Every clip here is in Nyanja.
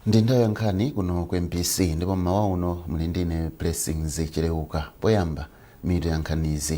ndi nthawi ya nkhani kuno ku mbc ndipo mmawa uno muli ndine blessings chileuka poyamba mitu ya nkhanizi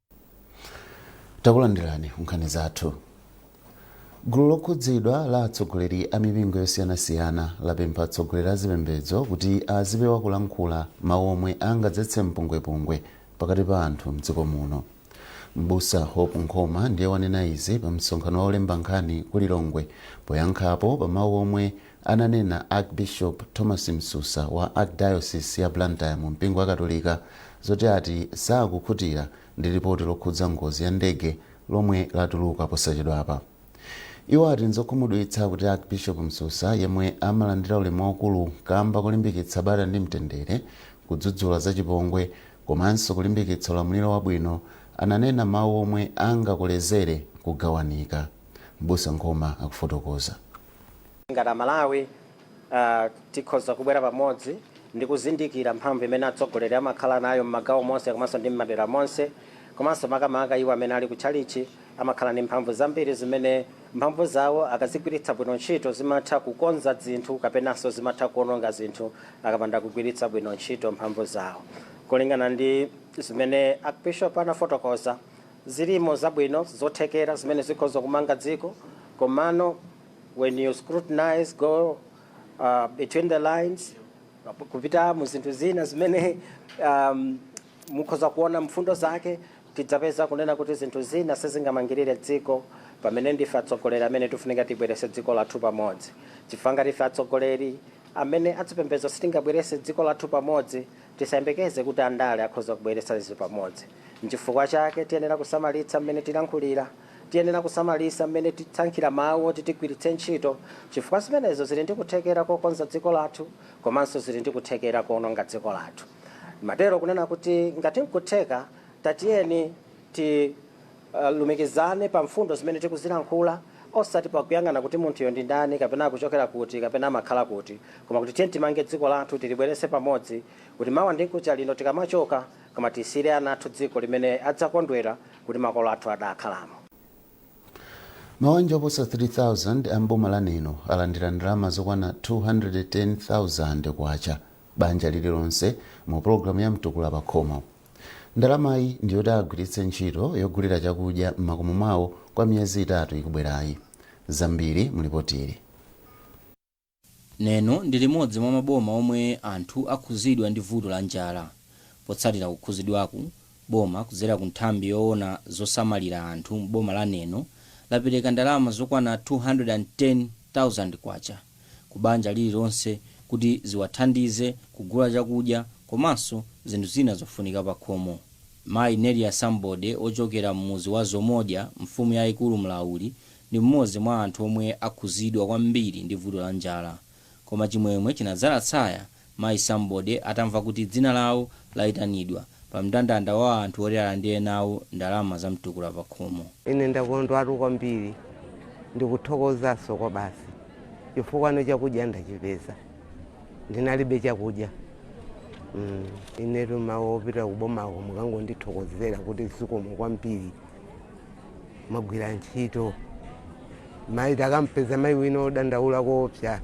takulandirani ku nkhani zathu gulu lokhudzidwa la atsogoleri a mipingo yosiyanasiyana lapempha atsogoleri a zipembedzo kuti azipewa kulankhula mawu omwe angadzetse mpungwepungwe pakati pa anthu mdziko muno mbusa hope nkhoma ndiye wanena izi pa msonkhano wa olemba nkhani ku lilongwe poyankhapo pa mawu omwe Ananena Archbishop Thomas Msusa wa Archdiocese ya Blantyre mu mpingo wa katolika zoti ati sakukhutira ndi lipoti lokhudza ngozi ya ndege lomwe latuluka posachedwapa. Iwo ati nzokhumudwitsa kuti Archbishop Msusa yemwe amalandira ulemu waukulu kamba kolimbikitsa bata ndi mtendere, kudzudzula zachipongwe komanso kulimbikitsa ulamuliro wabwino ananena mawu omwe angakolezere kugawanika. M'busa Nkhoma akufotokoza. Ngati Amalawi tikhoza kubwera pamodzi ndi kuzindikira mphamvu imene atsogoleri amakhala nayo m'magawo monse komanso ndi m'madera monse, komanso makamaka iwo amene ali ku tchalitchi amakhala ndi mphamvu zambiri zimene mphamvu zawo akazigwiritsa bwino ntchito zimatha kukonza zinthu kapenanso zimatha kuononga zinthu akapanda kugwiritsa bwino ntchito mphamvu zawo. Kulingana ndi zimene Archbishop anafotokoza, Zilimo zabwino zothekera zimene zikhoza kumanga dziko komano when you scrutinise go between the lines kupita mu zinthu zina zimene mukhoza kuona mfundo zake tidzapeza kunena kuti zinthu zina sizingamangirire dziko pamene ndife atsogoleri amene tifunika tibwerese dziko lathu pamodzi chifukwa ngati ife atsogoleri amene adzipembezo sitingabwerese dziko lathu pamodzi Tisayembekeze kuti andale akhoza kubweretsa zinthu pamodzi. N'chifukwa chake tiyenera kusamalitsa mmene tilankhulira. Tiyenera kusamalitsa mmene tisankhira mawu oti tigwiritse ntchito chifukwa zimenezo zili ndi kuthekera kokonza dziko lathu komanso zili ndi kuthekera kowononga dziko lathu. Ndimatero kunena kuti ngati n'kutheka tatiyeni ti. Lumikizane pa mfundo zimene tikuzilankhula, osati pakuyang'ana kuti munthuyo ndi ndani, kapena akuchokera kuti, kapena amakhala kuti, koma kuti tiyeni timange dziko lathu, tilibweretse pamodzi, kuti mawa ndi mkucha lino tikamachoka, koma tisiyire ana athu dziko limene adzakondwera kuti makolo athu adakhalamo. Mawanja oposa 3,000 a m'boma la Neno alandira ndalama zokwana K210,000 banja lililonse mu pologalamu ya Mtukula Pakhomo. Ndalamayi ndi yoti agwiritse ntchito yogulira chakudya m'makomo mwawo kwa miyezi itatu ikubwerayi. Zambiri mu lipotili. Neno ndi limodzi mwa maboma omwe anthu akhuzidwa ndi vuto la njala. Potsatira kukhuzidwaku, boma kudzera ku nthambi yoona zosamalira anthu m'boma la Neno lapereka ndalama zokwana K210,000. ku banja lililonse kuti ziwathandize kugula chakudya komanso zinthu zina zofunika pakhomo. Mayi Nelia Sambode ochokera m'mudzi wa Zomodya mfumu yaikulu Mlauli ndi m'modzi mwa anthu omwe akhuzidwa kwambiri ndi vuto la njala. Koma chimwemwe chinadzala tsaya Mayi Sambode atamva kuti dzina lawo laitanidwa pa mndandanda wa anthu oti alandire nawo ndalama za Mtukula Pakhomo. Ine ndakondwatu kwambiri, ndikuthokozanso kwabasi chifukwano chakudya ndachipeza. Ndinalibe chakudya mm inetu mawu opita kubomako mukangondithokozera kuti zikomo kwambiri. Mwagwira ntchito mayi, takampeza mayi wina odandaula koopsa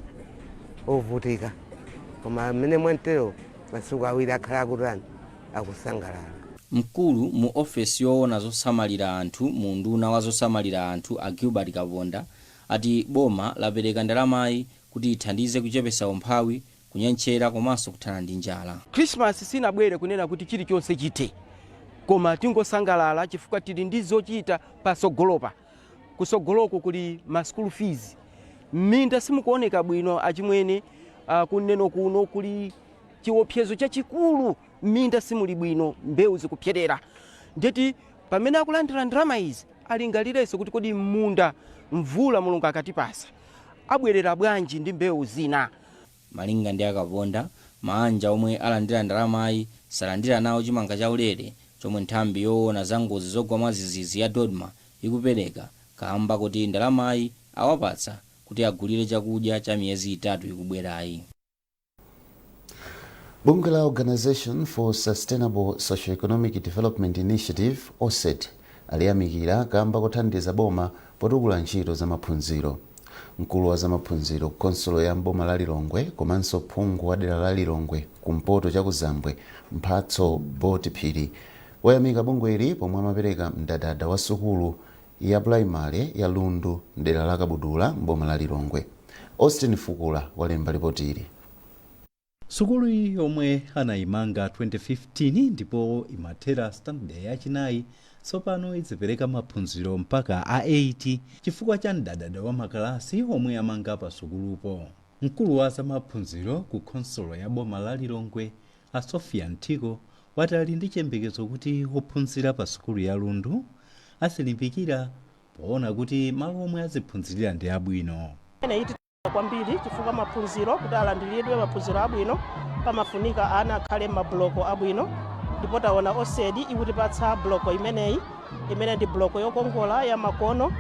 ovutika, koma mmene mwantero masiku awiri akhala akutani akusangalala. Mkulu mu ofesi yoona zosamalira anthu mu unduna wa zosamalira anthu a Gilbert Kaponda ati boma lapereka ndalamayi kuti ithandize kuchepesa umphawi kunyentchera komanso kuthana ndi njala. Christmas sinabwere kunena kuti chilichonse chithe koma tingosangalala chifukwa tili ndi zochita pasogolopa. Kusogoloko kuli ma school fees, m'minda simukuoneka bwino achimwene, ku Neno kuno kuli chiopsezo chachikulu, m'minda simuli bwino, mbewu zikupserera. Ndeti pamene akulandira ndalama izi alingalireso kuti kodi m'munda mvula Mulungu akatipasa abwerera bwanji ndi mbewu zina. Malinga ndi a Kaponda, maanja omwe alandira ndalamayi salandira nawo chimanga chaulere chomwe nthambi yoona za ngozi zogwa mwadzidzidzi ya Dodma ikupereka kaamba koti ndalamayi awapatsa kuti agulire chakudya cha miyezi itatu ikubwerayi. Bungwe la Organisation for Sustainable Socio-Economic Development Initiative, Osedi, aliyamikira kamba kothandiza boma potukula ntchito za maphunziro. Mkulu wa zamaphunziro khonsolo ya m'boma la Lilongwe komanso phungu wa dera la Lilongwe kumpoto chakuzambwe, Mphatso Boti Phiri, ayamika bungweli pomwe amapereka mdadada wa sukulu ya pulaimale ya Lundu mdera la Kabudula m'boma la Lilongwe. Austin Fukula walemba lipotili. Sukulu yomwe anayimanga 2015 ndipo imathera sitandade yachinayi, tsopano izipereka maphunziro mpaka a 8 chifukwa cha mdadada wa makalasi omwe amanga pa sukulupo. Mkulu wa za maphunziro ku khonsolo ya boma la Lilongwe a Sophia Nthiko wati ali ndi chiyembekezo kuti ophunzira pa sukulu ya Lundu azilimbikira poona kuti malo omwe aziphunzirira ndi abwino. kwambiri chifukwa maphunziro kuti alandiridwe maphunziro abwino pamafunika ana akhale mabuloko abwino ndipo taona osedi ikutipatsa buloko imeneyi imene ndi buloko yokongola ya makono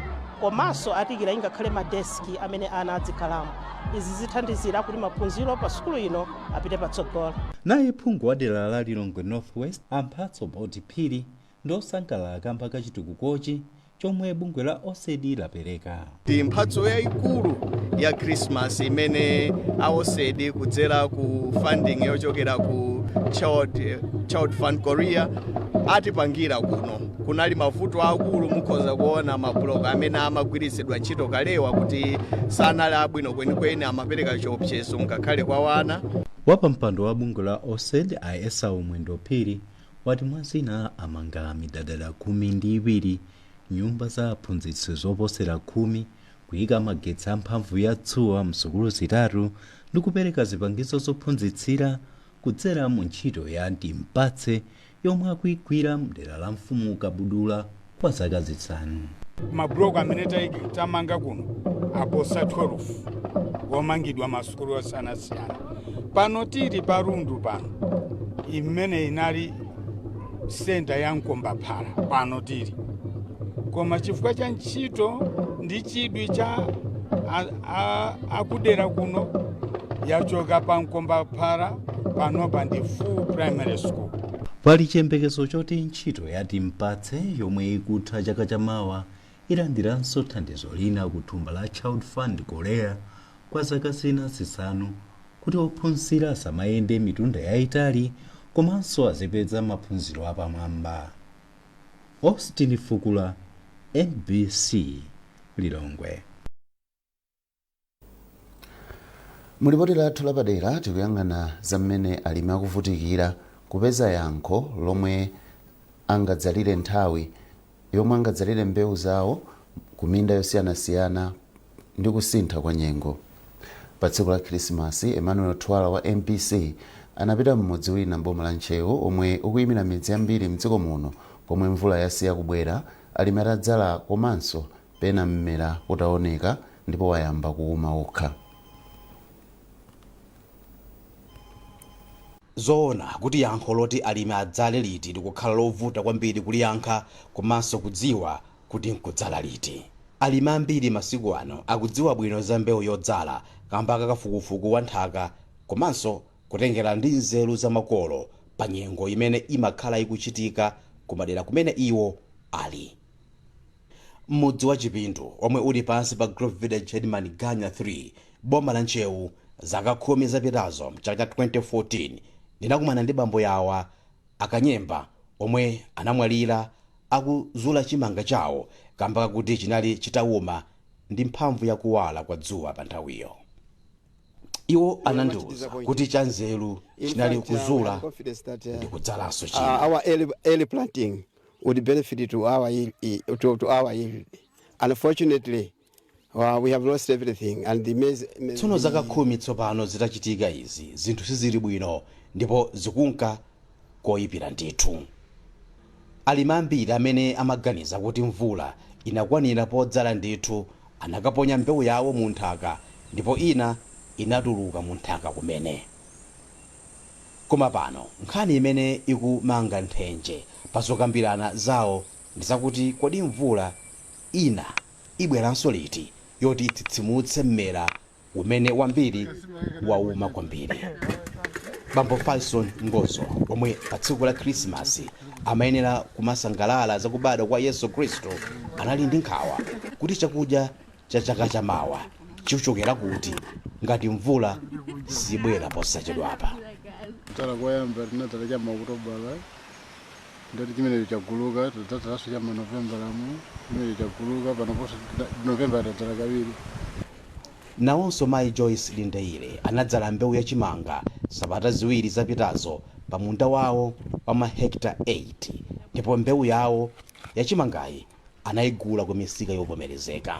komanso atiikira ingakhale madeski amene ana adzikhalamo izi zithandizira kuti maphunziro pa sukulu ino apite patsogolo naye phungu wa dera la lilongwe northwest a mphatso boti phiri Ndiosangalala kamba ka chitukukochi chomwe bungwe la Oced lapereka. Ndi mphatso yayikulu ya Christmas imene a Oced kudzera ku funding yochokera ku Child, Child Fund Korea atipangira kuno. Kunali mavuto aakulu mukhoza kuona mablock amene amagwiritsidwa ntchito kalewa kuti sanali abwino kwenikweni amapereka chiopsezo ngakhale kwa ana. Wapampando wa bungwe la Oced a Esau Mwendo Phiri wati mwa zina amanga midadada khumi ndi iwiri, nyumba za aphunzitsi zoposera khumi, kuika magetsi a mphamvu ya dzuwa m'sukulu zitatu ndi kupereka zipangizo zophunzitsira kudzera mu ntchito ya Timpatse yomwe akuigwira m'dera la mfumu Kabudula. kwa zaka zisanu. Mabuloko amene tamanga kuno aposa 12 womangidwa masukulu osiyanasiyana. Pano tili pa Lundu pano imene inali senta ya mkombaphala pano tili koma chifukwa cha ntchito ndi chidwi cha a- a- akudera kuno yachoka pa mkombaphala panopa ndi full primary school. Pali chiyembekezo choti ntchito ya Timpatse yomwe ikutha chaka cha mawa ilandiranso thandizo lina ku thumba la Child Fund Korea kwa zaka zina zisanu kuti ophunzira asamayende mitunda yaitali komanso azipeza maphunziro apamwamba. Austin Fukula, MBC, Lilongwe. mu lipoti lathu lapadera tikuyang'ana za mmene alimi akuvutikira kupeza yankho lomwe angadzalire nthawi yomwe angadzalire mbewu zawo ku minda yosiyanasiyana ndi kusintha kwa nyengo pa tsiku la khirisimasi emmanuel thuwala wa mbc anapita m'mudzi wina mboma la ntcheu womwe ukuyimira midzi yambiri mdziko muno komwe mvula yasiya kubwera alimi atadzala komanso Pena mmera utaoneka ndipo wayamba kuuma wokha. N'zoona kuti yankho loti alimi adzale liti likukhala lovuta kwambiri kuliyankha komanso kudziwa kuti n'kudzala liti. Alimi ambiri masiku ano akudziwa bwino za mbewu yodzala kamba ka kafukufuku wa nthaka komanso kutengera ndi nzeru za makolo pa nyengo imene imakhala ikuchitika kumadera kumene iwo ali. m'mudzi wa chipindu omwe uli pansi pa group village headman ganya 3 boma la ntcheu zaka khumi zapitazo mchaka cha 2014 ndinakumana ndi bambo yawa a kanyemba omwe anamwalira akuzula chimanga chawo kamba kakuti chinali chitawuma ndi mphamvu ya kuwala kwa dzuwa pa nthawiyo iwo anandiuza kuti chanzeru chinali kuzula ndi kudzalanso china our early, early planting would benefit to our in, i- to, to our yield. Unfortunately, uh, we have lost everything, and the, mes- me- tsono zaka khumi tsopano zitachitika izi zinthu sizili bwino ndipo zikunka koyipira ndithu alimi ambiri amene amaganiza kuti mvula inakwanira podzala ndithu anakaponya mbewu yawo mu nthaka ndipo ina inatuluka mu nthaka kumene Koma pano nkhani imene ikumanga nthenje pa zokambirana zawo ndi zakuti kodi mvula ina ibweranso liti yoti itsitsimutse mmera umene wambiri wauma kwambiri. Bambo Fyson Ngozo omwe pa tsiku la Khirisimasi amayenera kumasangalala za kubadwa kwa Yesu Khristu anali ndi nkhawa kuti chakudya cha chaka cha mawa chichokera kuti ngati mvula sibwera posachedwapa kudzala koyamba tinadzala cha maokutobala ndati chimenecho chaguluka tidadzalanso cha manovembalamu chimenecho chaguluka panoponso novembala tadzala kawiri nawonso mayi joyce lindeire anadzala mbewu ya chimanga sabata ziwiri zapitazo pa munda wawo wa mahekita 8 ndipo mbewu yawo ya chimangayi anaigula kumisika yovomerezeka.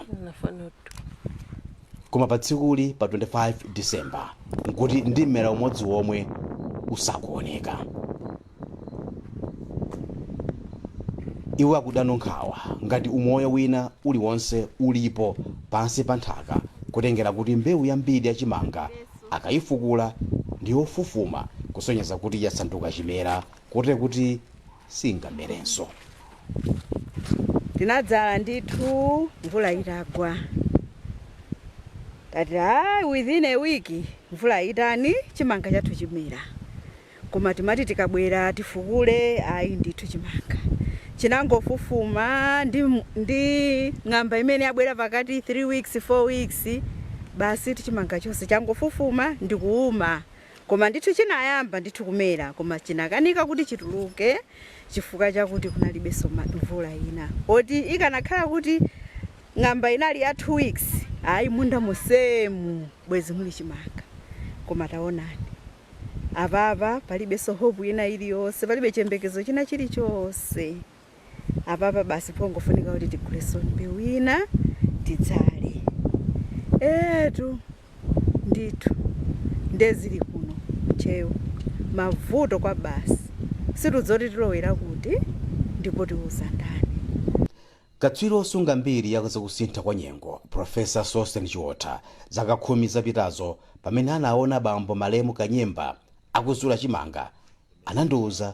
Koma pa tsikuli pa 25 December nkuti ndi mmera umodzi womwe usakuoneka. Iwo akudano nkhawa ngati umoyo wina uliwonse ulipo pansi pa nthaka kutengera kuti mbewu yambiri ya chimanga akaifukula ndi yofufuma kusonyeza kuti yasanduka chimera kotero kuti singamerenso. Tinadzala ndithu mvula itagwa tati a within a week mvula itani chimanga chathu chinamera koma timati tikabwera tifukule ayi ndithu chimanga chinangofufuma ndi, ndi ng'amba imene yabwera pakati 3 weeks 4 weeks basi chimanga chonse changofufuma ndikuuma Koma ndithu chinayamba ndithu kumera koma chinakanika kuti chituluke chifukwa chakuti kunalibenso mvula ina poti ikanakhala kuti ng'amba inali ya two weeks ayi munda monsemu bwezi muli chimanga koma taonani apapa palibenso hope ina iliyonse palibe chiyembekezo china chilichonse. apapa basi pongofunika kuti tigulenso mbewu ina tidzale etu ndithu nde zili kuno chewu mavuto kwabasi sitidziwa kuti tilowera kuti ndipo tiuza ndani katswiri osunga mbiri ya zakusintha kwa nyengo profesa sosten chiotha zaka khumi zapitazo pamene anaona bambo malemu kanyemba akuzula chimanga anandiwuza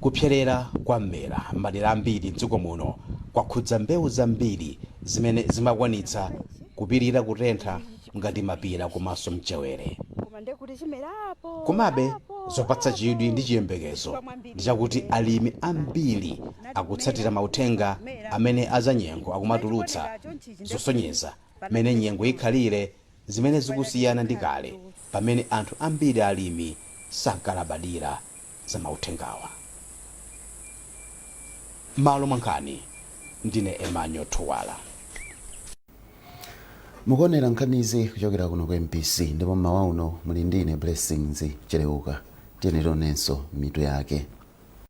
Kupselera kwa mmera m'madera ambiri m'dziko muno kwakhudza mbewu zambiri zimene zimakwanitsa kupirira kutentha ngati mapira komanso mchewere. Komabe, zopatsa chidwi ndi chiyembekezo ndi chakuti alimi ambiri akutsatira mauthenga amene azanyengo akumatulutsa zosonyeza mmene nyengo ikhalire zimene zikusiyana ndi kale pamene anthu ambiri alimi sankalabadira za mauthengawa. M'malo mwa nkhani ndine Emmanuel Thuwala. mukuonera nkhanizi kuchokera kuno ku mbc ndipo mmawa uno muli ndi ine blessings cheleuka tiyenera tionenso mitu yake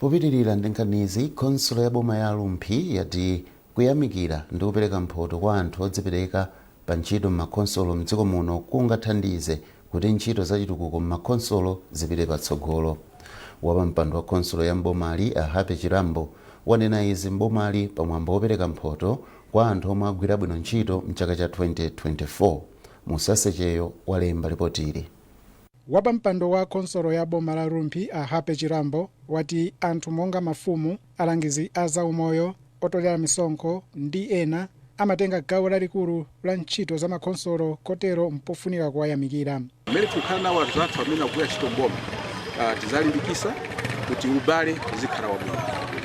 Popitilira ndi nkhanizi, khonsolo ya boma ya Rumphi yati kuyamikira ndi kupereka mphoto kwa anthu odzipereka pa ntchito m'makhonsolo m'dziko muno kungathandize kuti ntchito za chitukuko m'makhonsolo zipite patsogolo. Wapampando wa khonsolo ya m'bomali, a Happy Chirambo, wanena izi m'bomali pa mwambo wopereka mphoto kwa anthu omwe agwira bwino ntchito m'chaka cha 2024. Musase Cheyo walemba lipotili. Wapampando wa khonsolo ya boma la Rumphi a Happy Chirambo wati anthu monga mafumu, alangizi a za umoyo, otolera misonkho ndi ena amatenga gawo lalikulu la ntchito za makhonsolo kotero mpofunika kuwayamikira. Mmene tikukhala nawo anthu athu amene akugwira ntchito m'boma ah, tidzalimbikisa kuti ubale uzikhala wabwino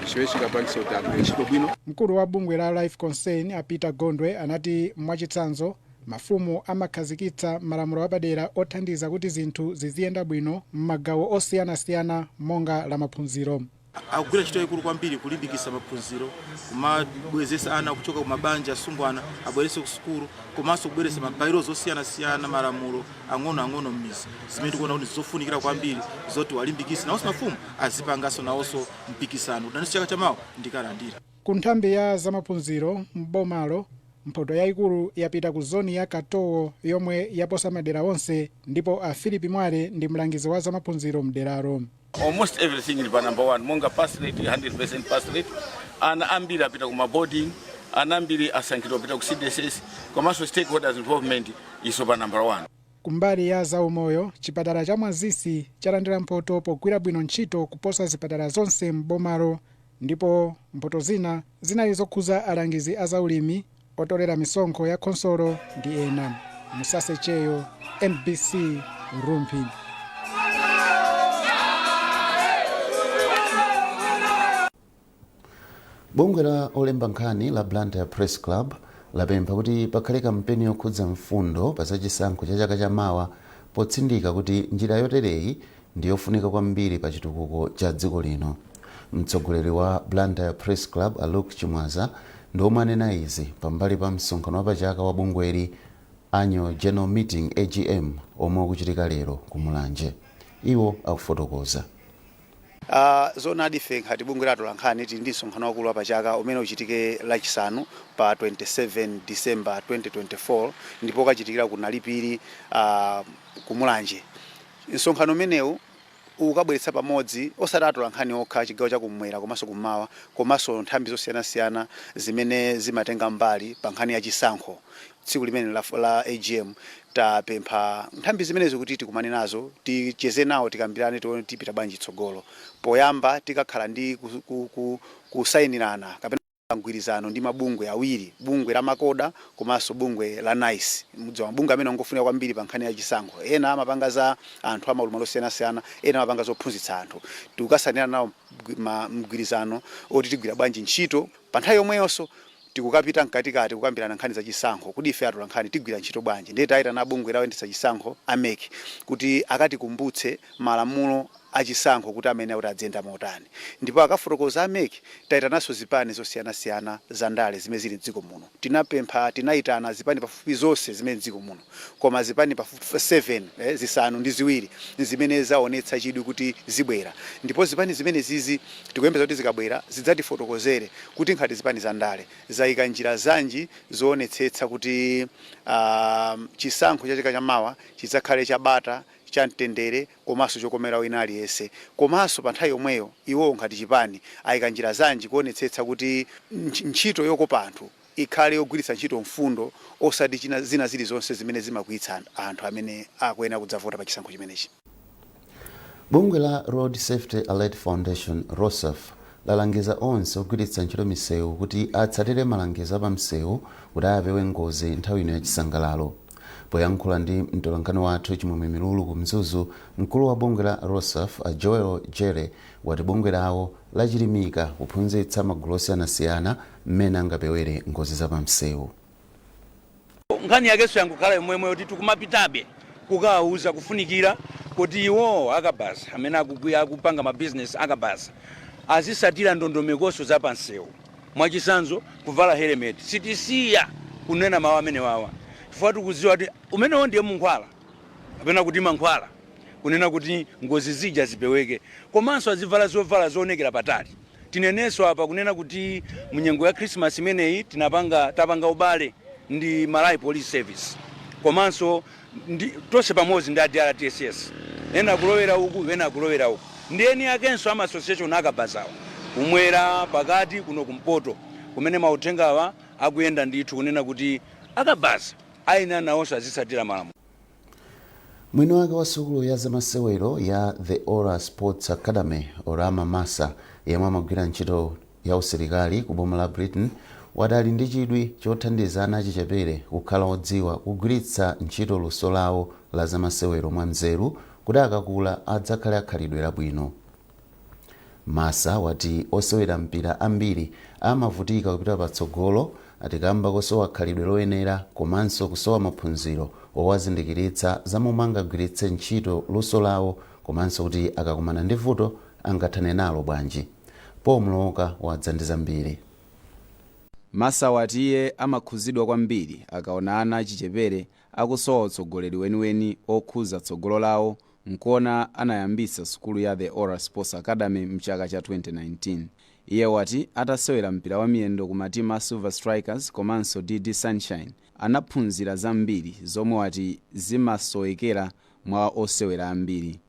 chimene chingapangise kuti agwire ntchito bwino. Mkulu wa bungwe la Life Concern a Peter Gondwe anati mwachitsanzo, Mafumu amakhazikitsa malamulo apadera othandiza kuti zinthu ziziyenda bwino m'magawo osiyanasiyana monga la maphunziro. Akugwira ntchito yaikulu kwambiri kulimbikitsa maphunziro, kumabwezetsa ana kuchoka ku mabanja asungwana abwererenso ku sukulu komanso kubweretsa ma bylaws osiyanasiyana, malamulo ang'onoang'ono m'midzi zimene tikuona kuti ndizofunikira kwambiri zoti tiwalimbikitse nawonso mafumu azipanganso nawonso mpikisano kuti nanenso chaka chamawa ndikalandire. Ku nthambi ya zamaphunziro m'bomalo, mphoto yaikulu yapita ku zoni ya Katowo yomwe yaposa madera onse ndipo a Phillip Mwale ndi mlangizi wa zamaphunziro m'deralo. Almost everything ili pa number one monga pass rate 100% pass rate ana ambiri apita ku maboarding ana ambiri asankhidwa kupita ku CDSS komanso stakeholders involvement is on number one. Kumbali ya zaumoyo, chipatala cha Mwazisi chalandira mphoto pogwira bwino ntchito kuposa zipatala zonse m'bomalo Ndipo mphoto zina zinali zokhuza alangizi a za ulimi, otolera misonkho ya khonsolo ndi ena. Musase Cheyo, mbc, Rumphi. Bungwe la olemba nkhani la Blantyre Press Club lapempha kuti pakhale kampeni yokhudza mfundo pa zachisankho cha chaka cha mawa potsindika kuti njira yotereyi ndi yofunika kwambiri pa chitukuko cha dziko lino. Mtsogoleri wa Blantyre Press Club a Luke Chimwaza ndi omwe anena izi pambali pa msonkhano wapachaka wa bungweli Annual General Meeting AGM omwe ukuchitika lero ku Mulanje. Iwo akufotokoza. Uh, zoonadi ife ngati bungwe la atolankhani tili ndi msonkhano waukulu wapachaka umene uchitike lachisanu pa 27 December 2024 ndipo ukachitikira ku Nalipiri uh, ku Mulanje Msonkhano umenewu ukabweretsa pamodzi osati atolankhani okha a chigawo cha kummwera komanso kummawa komanso nthambi zosiyanasiyana zimene zimatenga mbali pa nkhani ya chisankho tsiku limeneli la la AGM. Tapempha nthambi zimenezi kuti tikumane nazo, ticheze nawo, tikambirane tione kuti tipita bwanji chitsogolo. Poyamba tikakhala ndi ku, ku, ku, kusayinirana kapena pa mgwirizano ndi mabungwe awiri, bungwe la Macoha komanso bungwe la nice. Mudziwa mabungwe amenewa ngofunika kwambiri pa nkhani ya chisankho. Ena amapanga za anthu a maulumali osiyanasiyana, ena amapanga zophunzitsa anthu. Tikukasainirana nawo mgwirizano woti tigwira bwanji ntchito. Pa nthawi yomweyonso, tikukapita mkatikati kukambirana nkhani za chisankho. Kodi ife atolankhani tigwira ntchito bwanji? Ndiye taitana abungwe loyendetsa chisankho a mec kuti akatikumbutse malamulo achisankho kuti amayenera kuti adziyenda motani ndipo akafotokoza a mec taitananso zipani zosiyanasiyana za ndale zimene zili mdziko muno tinapempha tinaitana zipani pafupifupi zonse zimene mdziko muno koma zipani pafupifupi 7 zisanu ndi ziwiri nzimene zaonetsa chidwi kuti zibwera ndipo zipani zimenezizi tikuyembeza kuti zikabwera zidzatifotokozere kuti nkhati zipani za ndale zaika njira zanji zoonetsetsa kuti aah chisankho cha chaka cha mawa chidzakhale cha bata cha mtendere komaso chokomera wina aliyese komaso pa nthawi yomweyo iwowo ngati chipani ayika njira zanji kuonetsetsa kuti ntchito yokopa anthu ikhale yogwiritsa ntchito mfundo osati chi- zina zilizonse zimene zimakwiyitsa anthu amene akuyenera kudzavota pa chisankho chimenechi. Bungwe la Road Safety Alert Foundation, Rosaf, lalangiza onse ogwiritsa ntchito misewu kuti atsatire malangizo a pa msewu kuti apewe ngozi nthawi ino ya chisangalalo. Poyankhula ndi mtolankhani wathu Chimwemwe Milulu ku Mzuzu, mkulu wa bungwe la Rosaf a Joel Jere wati bungwe lawo lachilimika kuphunzitsa magulu osiyanasiyana mmene angapewere ngozi za pamsewu. Nkhani yakenso yangokhala yomweyo yoti tikumapitabe kukawauza kufunikira koti iwowo a kabaza amene akupanga ma bizinesi a kabaza azisatira ndondomekonso za pansewu. Mwachitsanzo, kuvala helemeti. Sitisiya kunena mawu amenewawa chifukwa tikudziwa kuti umenewo ndiye munkhwala kapena kuti mankhwala kunena kuti ngozi zija zipeweke. Komanso azivala zovala zoonekera patali. Tinenenso apa kunena kuti mu nyengo ya Khrisimasi imeneyi tinapanga, tapanga ubale ndi Malawi Police Service komanso. tonse pamodzi ndi a DRTSS ena kulowera uku ena kulowera uku ndi eni akenso a ma association a kabazawa kumwera, pakati, kuno kumpoto kumene mauthengawa akuyenda ndithu kunena kuti a kabaza ayenera nawonso azitsatira malamulo. Mwini wake wa sukulu ya zamasewero ya The Ora Sports Academy, Orama Massa, yemwe amagwira ntchito ya usilikali ku boma la Britain wati ali ndi chidwi chothandiza ana achichepere kukhala odziwa kugwiritsa ntchito luso lawo la zamasewero mwanzeru kuti akakula adzakhale akhalidwe labwino. Massa wati osewera mpira ambiri amavutika kupita patsogolo ati kamba kosowa khalidwe loyenera komanso kusowa maphunziro owazindikiritsa za momwe angagwiritse ntchito luso lawo komanso kuti akakumana ndi vuto angathane nalo bwanji. Paul Mlooka wadza ndi zambiri. Massa wati iye amakhuzidwa kwambiri akaona ana achichepere akusowa utsogoleri weniweni okhuza tsogolo lawo nkuona anayambisa sukulu ya The Ora Sports Academy mchaka cha 2019. Iye wati atasewera mpira wamiyendo ku matimu a Silver Strikers komanso DD Sunshine anaphunzira zambiri zomwe wati zimasowekera mwa osewera ambiri.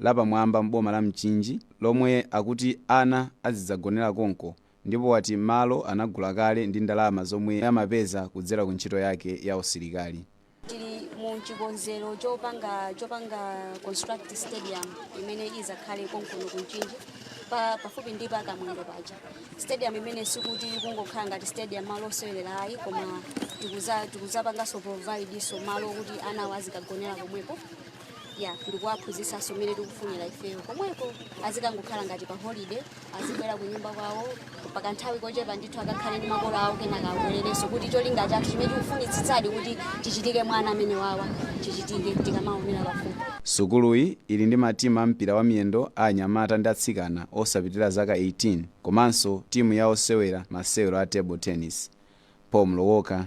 lapamwamba m'boma la Mchinji lomwe akuti ana azidzagonera konko ndipo wati malo anagula kale ndi ndalama zomwe amapeza kudzera ku ntchito yake ya usilikali. Tili mu chikonzero chopanga construct stadium imene izakhale konkuno ku Mchinji pafupi ndi pa Kamwendo paja. Stadium imene sikuti ikungokhala ngati stadium malo osewerera ayi koma tikuzapanganso provide so malo kuti ana awo azikagonera komweko ya ndikuwaphunzisanso mmene tikufunira ifeyo komweko azikangokhala ngati pa holiday azibwera ku nyumba kwawo pakanthawi kochepa ndithu akakhale ndi makolo awo kenaka abwererenso kuti cholinga chathu chimene tikufunitsitsadi kuti chichitike mwa ana amenewawa chichitike tikamaonera pafupi Sukuluyi ili ndi matimu a mpira wa miyendo a anyamata ndi atsikana osapitira zaka 18 komanso timu ya osewera masewero a table tennis. Paul Mlowoka,